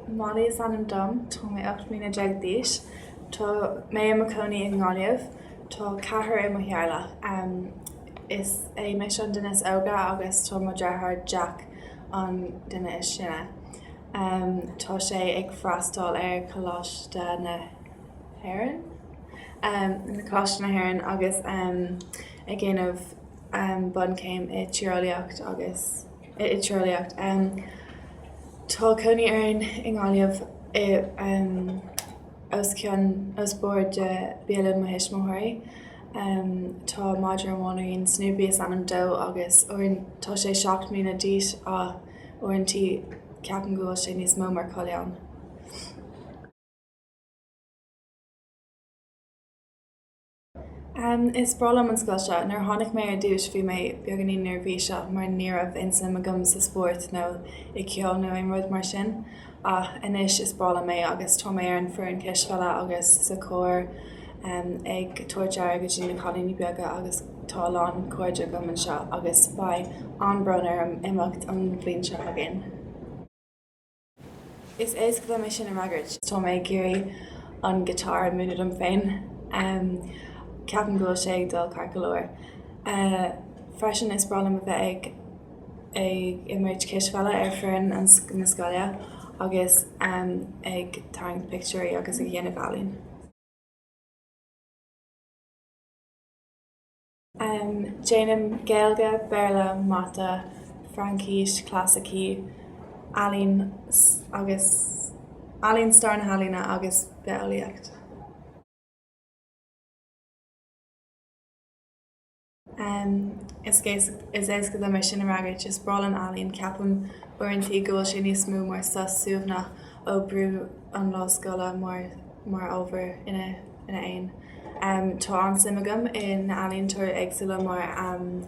Molly is ainm dom, Tá mé ocht mbliana déag d'aois. Tá mé i mo cónaí i nGaillimh. Tá ceathrar i mo theaghlach. Is mise an duine is óige agus tá mo dheartháir Jack an duine is sine. Tá sé ag freastal ar Choláiste na. hÉireann, na Coláiste na hÉireann agus ag déanamh bunchéim i tíreolaíocht agus i tíreolaíocht. Tá cónaí orainn i nGaillimh os bord de Bialann mo thuismitheoirí. Tá madra amháin againn Snoopy is ainm dó agus tá sé seacht mbliana d'aois ach uaireantaí ceapaim go bhfuil sé níos mó mar coileán. Is breá liom an scoil seo. Nuair a tháinig mé ar dtúis bhí mé beagáinín neirbhíseach mar ní raibh aon suim agam sa spórt nó i ceol nó aon rud mar sin. Ach anois is breá liom é agus tá mé ar an foireann cispheile agus sa chór ag tabhairt aire go dtí na cailíní beaga agus tá a lán cairde agam anseo agus beidh an-brón orm imeacht an bhliain seo chugainn. Is éasca dom é sin a fhreagairt. Tá mé ag iarraidh an giotár a múineadh dom féin. Ceapaim go bhfuil sé ag dul ceart go leor. Freisin, is breá liom a bheith ag ag imirt cispheile ar foireann na scoile agus ag tarraingt pictiúirí agus ag dhéanamh ealaín. Am, Déanaim Gaeilge, Béarla, Mata, Fraincis, Clasaicí, Ealaín agus Ealaín, Stair na hEalaíne agus Bitheolaíocht. Am, Is éasca dom é sin a fhreagairt, is breá liom ealaín, ceapaim uaireantaí go bhfuil sé níos mó mar sos suaimhneach ó brú an lá scoile mar ábhar ina. Tá an-suim agam in ealaíontóirí éagsúla mar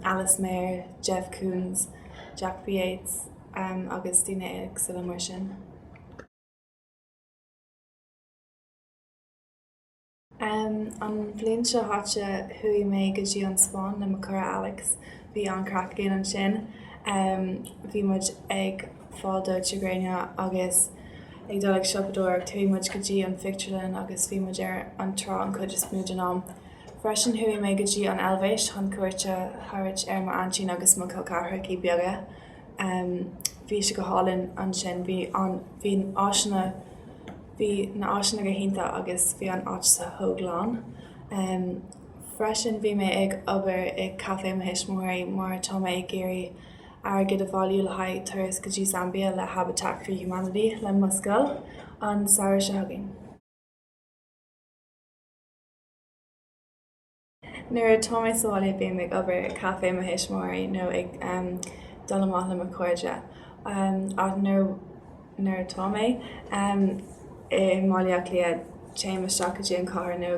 Alice Maher, Jeff Koons, Jack B Yeats agus daoine éagsúla mar sin. An bhliain seo chaite chuaigh mé go dtí an Spáinn le mo cara Alex. Bhí an-craic againn ansin. Bhí muid ag. fáil dó gréine agus ag dul ag siopadóireacht chuaigh muid go dtí an phictiúrlann agus bhí muid ar an trá an cuid is mó den am. Freisin chuaigh mé go dtí an Eilvéis chun cuairt a thabhairt ar m'aintín agus mo chol ceathrachaí beaga. Bhí sé go hálainn ansin bhí an, bhí áiseanna, bhí na áiseanna go hiontach agus bhí an áit chomh glan. Freisin bhí mé ag obair i caifé mo thuismitheoirí mar tá mé ag iarraidh airgead a bhailiú le haghaidh turas go dtí Zambia le Habitat for Humanity le mo scoil an samhradh seo chugainn. Nuair atá mé sa bhaile bím ag obair i caifé mo thuismitheoirí nó ag dul amach le mo chairde ach nuair atá mé i mBaile Átha Cliath téim isteach go dtí an cathair nó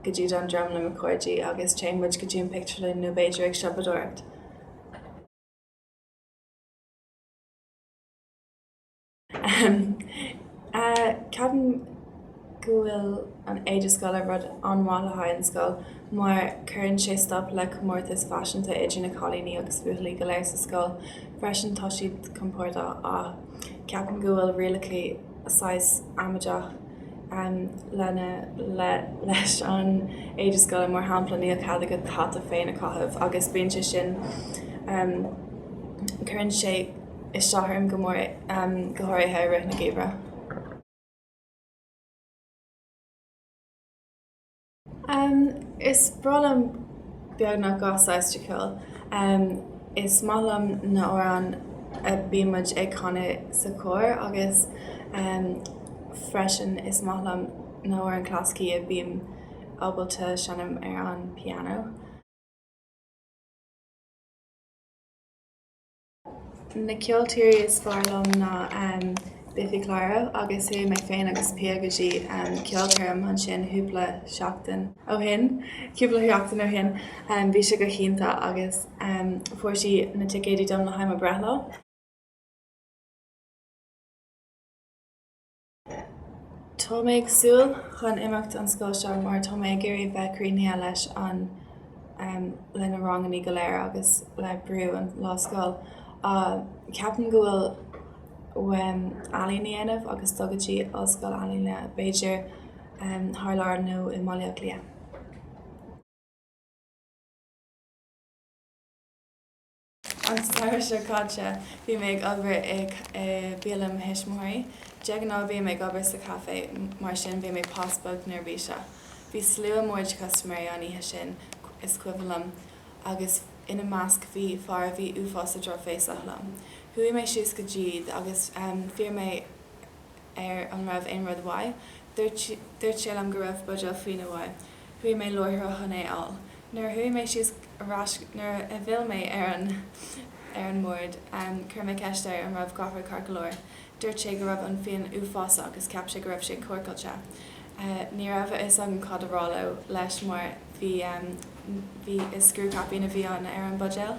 go dtí Dundrum le mo chairde agus téann muid go dtí an pictiúrlann nó b'fhéidir ag siopadóireacht. Ceapaim go bhfuil an éide scoile rud an-mhaith le haghaidh an scoil mar cuireann sé stop le comórtas faiseanta idir na cailíní agus buachaillí go léir sa scoil. Freisin tá siad compordach ach ceapaim go bhfuil rialacha saghas amaideach lena leis an éide scoile, mar shampla níl cead agat hata féin a chaitheamh agus bíonn sé sin cuireann sé isteach orm go mór go háirithe i rith na geimhreadh. Is breá liom beagnach gach saghas de cheol. Is maith liom na amhráin a bíonn muid ag canadh sa chór agus freisin is maith liom na hamhráin clasaicí a bhím ábalta seinm ar an piano. Na ceoltóirí is fearr liom ná Biffy Clyro agus chuaigh mé féin agus Pia go dtí ceolchoirm ansin chúpla seachtain ó shin. Cúpla sheachtain ó shin. Bhí sé go hiontach agus fuair sí na ticéidí dom le haghaidh mo breithlá. Tá mé ag súil chun imeacht ón scoil seo mar tá mé ag iarraidh a bheith críochnaithe leis an le na rangannaí go léir agus le brú an lá scoil. Ceapaim go bhfuil uaim ealaín a dhéanamh agus dul go dtí ollscoil ealaíne b'fhéidir thar lear nó i mBaile Átha Cliath. An samhradh seo caite bhí mé ag obair i mbialann mo thuismitheoirí. De ghnáth bím ag obair sa chaife, mar sin bhí mé pas beag neirbhíseach. Bhí slua mór de chustaiméirí an oíche sin, is cuimhin liom, agus ina measc bhí fear a bhí uafásach drochbhéasach liom. Chuaigh mé síos go dtí iad agus d'iarr mé air an raibh aon rud uaidh. Dúirt sé liom go raibh buidéal fíona uaidh. Chuaigh mé láithreach chun é a fháil. Nuair a chuaigh mé síos ar ais nuair a d'fhill mé ar an ar an mbord chuir mé ceist air an raibh gach rud ceart go leor. Dúirt sé go raibh an fíon uafásach agus cheap sé go raibh sé corcáilte. Ní raibh a fhios agam cad a rá leo leis mar bhí bhí is scriú caipín a bhí an ar an buidéal.